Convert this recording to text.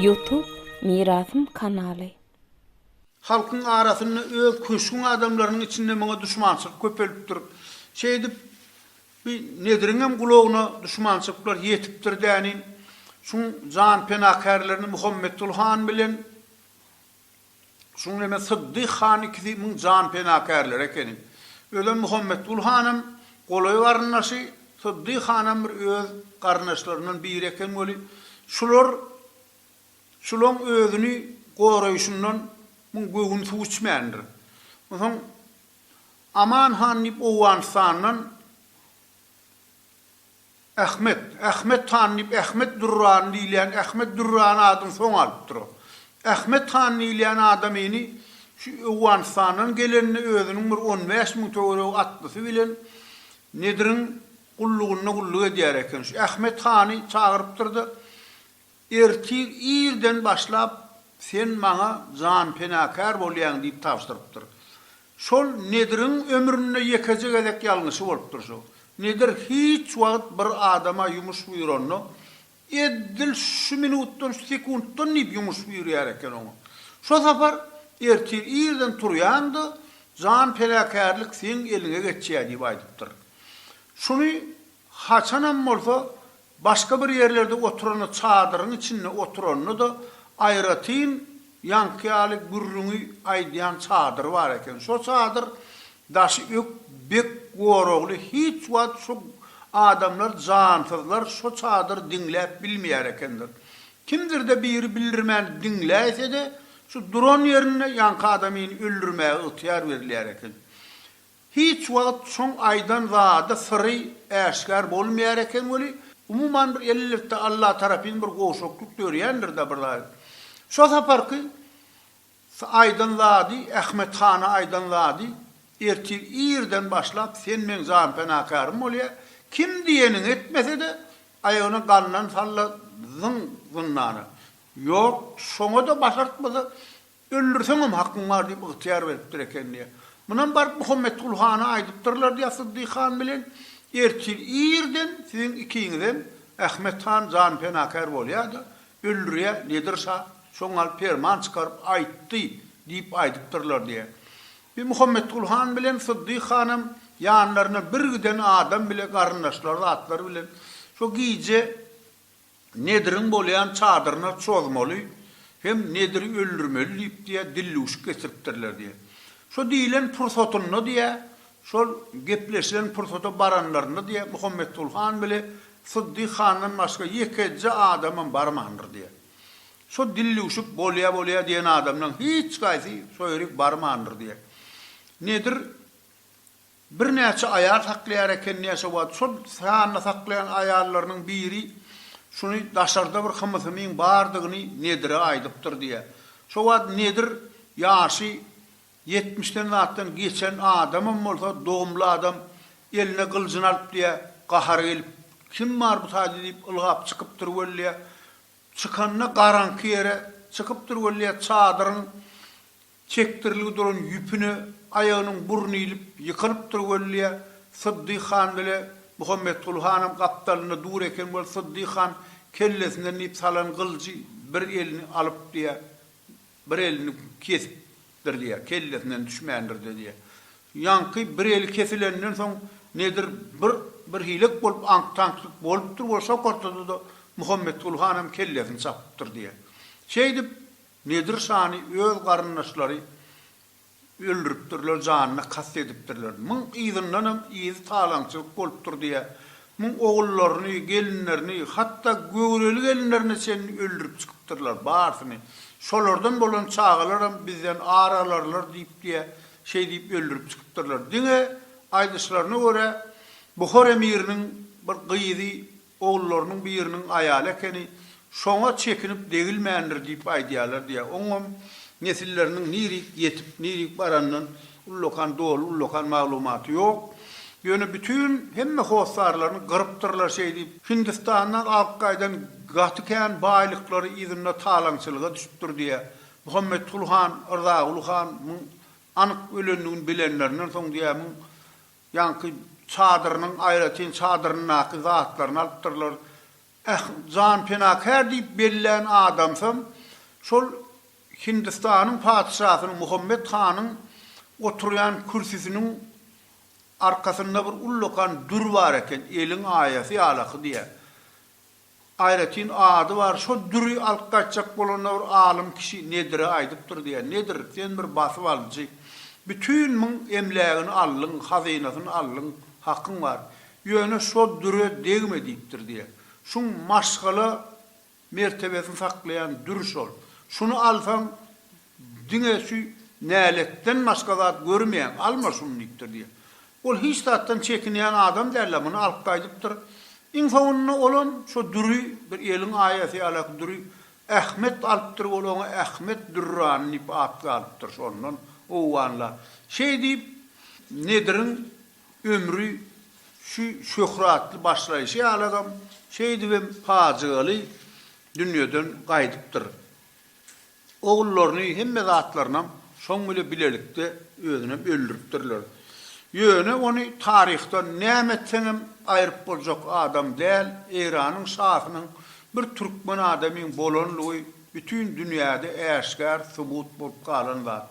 Youtube Mirasym kanaly. Halkyň arasynda öz köşgüň adamlarynyň içinde muňa duşmançylyk köpelipdir. Şeýdip bi Nediriňem gulagyna duşmançylyklar ýetipdir dänin. Şuň jan penakärlerini Muhammetgul han bilen Şuň bilen-de Syddyh han ikisi müň jan penakärleri ekeni. Özem Muhammetgul hanam golaý garyndaşy, Syddyh hanam bir öz garyndaşlaryndan biri eken weli, şular şulaň özüni goraýşyndan müň göwün suw içmändir. Onsoň Aman han diýip Owganystandan Ahmet, Ahmet han diýip Ahmet Dürrany diýilýän Ahmet Dürrany adyny soň alypdyr o. Ahmet han diýilýän adam ini şu Owganystandan gelende özüniň bir on bäş müň töweregi atlysy bilen Nediriň gullugynda gulluk edýär eken. Şu Ahmet hany çagyrypdyr-da, Ertir irden başlap sen maňa janpenakär bolýaň diýip tabşyrypdyr. Şol Nediriň ömründe ýekeje gezek ýalňyşy bolupdyr şu. Nedir hiç wagt bir adama ýumuş buýranda, edil şu minutdan, şu sekuntdan diýip ýumuş buýurýar eken oňa. Şo sapar ertir irden turýan-da, janpenakärlik seň eliňe geçýär diýip aýdypdyr. Şuny Haçanam bolsa, başga bir ýerlerde oturanda çadyryň içinde oturanda-da aýratyn ýaňky ýaly gürrüňi aýdýan çadyr bar eken. Şo çadyr daşy ök bek goragly, hiç wagt şo adamlar, jansyzlar şo çadyr diňläp bilmeýär ekendir. Kimdir-de biri bildirmän diňläýse-de, şu duran ýerinde ýaňky adamyny öldürmäge ygtyýar berilýär eken. Hiç wagt şoň aýdan zady syry äşgär bolmaýar eken weli, umuman bir elletde Alla tarapyn bir gowşaklyk dörýändir-dä bir zady. Şo saparky aýdan zady, Ahmet hana aýdan zady, ertir irden başlap sen meň janpenakarym bolýa, kim diýeniňi etmese-de, aýagyna gandan salla zyň zyndana. Ýok, şoňa-da başartmasa, Öldürseňem hakyň bar diýip ygtyýar beripdir eken diýýär. Munam baryp Muhammetgul hana aýdypdyrlar diýýär Syddyk han bilen. Ertir irden siziň ikiňizem Ahmet han janpenakär bolýa-da, öldürýä, Nedir şa şo gal perman çykaryp aýtdy diýip aýdypdyrlar diýýär. Bi Muhammetgul han bilen Syddyk hanam ýanlaryna bir giden adam bile garyndaşlary zatlar bilen şo gije Nediriň bolýan çadyryna çozmaly hem Nediri öldürmeli diýip diýýär, dillüwşik getiripdirler diýýär. Şo diýilen pursatynda diýýär, şol gepleşilen pursata baranlarynda diýýär, Muhammetgul han bile Syddyk handan başga ýekeje adamam barmandyr diýýär. Şo dillüwşik bolýa bolýa diýen adamlaň hiç gaýsy şo ýerik barmandyr diýýär. Nedir Birnäçe aýal saklaýar eken näçe wagt. Şol sanda saklaýan aýallarynyň biri şuny daşarda bir hymysymyň bardygyny Nedire aýdypdyr diýýär. Şo wagt Nedir ýaşy ýetmişden zatdan geçen adamam bolsa dogumly adam eline gyljyny alyp diýýär, gahary gelip, Kim bar bu taýda diýip ylgap çykypdyr wellä. Çykanda garaňky ýere çykypdyr wellä çadyryň Çekdirilgi duran ýüpüne aýagynyň burny ilip, ýykylypdyr wellä, Syddyk han bile Muhammetguly hanam gapdalynda dur eken wol Syddyk han kellesinden diýip salan gyljy bir elini alypdyýa, bir elini kesipdirdiýä, kellesinden düşmändirdi diýä. Ýaňky bir eli kesilenden soň nedir bir bir hilek bolup aňk-taňklyk bolupdyr wol şo kortada-da Muhammetguly hanam kellesini çapypdyr diýä. Şeýdip, Nedir şany öz garyndaşlary öldüripdirler janyna kast edipdirler. Muň yzyndanam yzy talaňçylyk bolupdyr diýä muň ogullaryny, gelinlerini, hatda göwreli gelinlerine çenli öldürip çykypdyrlar barsyny. Şolardan bolan çagalaram bizden ar alarlar diýip diýä şeý diýip öldürip çykypdyrlar. Diňe aýdyşlaryna görä Buhar emiriniň bir gyzy Ogullarynyň biriniň aýaly ekeni, şoňa çekinip degilmändir diýip aýdýarlar diýýär. Oňam nesilleriniň nirik ýetip, nirik baranyndan ullakan doly, ullakan maglumaty ýok. Ýöne bütin hemme hossarlaryny gyrypdyrlar şeýdip. Hindistandan alyp gaýdan gaty kän baýlyklary yzynda talaňçylyga düşüpdir diýýär. Muhammetgul han, Yrzaguly han muň anyk ölendigini bilenlerinden soň diýýär, muň Ýaňky çadyrynyň aýratyn çadyryndaky zatlaryny alypdyrlar. Äh, jan penakär diýip bellän adamsam, şol Hindistanyň patyşasynyň, Muhammet hanyň oturýan kürsüsiniň arkasynda bir ullakan dür bar eken, eliň aýasy ýalaky diýýär. Aýratyn ady bar, şo düri alyp gaýtjak bolanda bir alym kişi Nedire aýdypdyr diýýär, Nedir, sen bir basyp alyjy. Bütin myň emlägini aldyň, hazynasyny aldyň, hakyň bar. Ýöne şo düre degme diýipdir diýýär. Şuň maşgala mertebesini saklaýan dür şol. Şuny alsaň, Diňe şu näletden başga zat görmeýän, alma şuny diýipdir diýýär. Ol hiç zatdan çekinýän adam däl-ä, muny alyp gaýdypdyr. Iň soňunda olam şo düri, bir eliň aýasy ýalaky düri Ahmet alypdyr, ol oňa Ahmet Dürrany diýip at galypdyr, şondan howwanlap. Şeý diýip, Nediriň ömri şu şöhratly başlaýşy ýalagam, şeýdibem pajygaly dünýeden gaýdypdyr. Ogullaryny hemme zatlarynam şoň bile bilelikde özünem öldüripdirler. Ýöne ony taryhdan näme etseňem aýryp boljak adam däl, Eýranyň şahynyň bir türkmen adamyň bolanlygy bütin dünýäde äşgär subut bolup galan zat.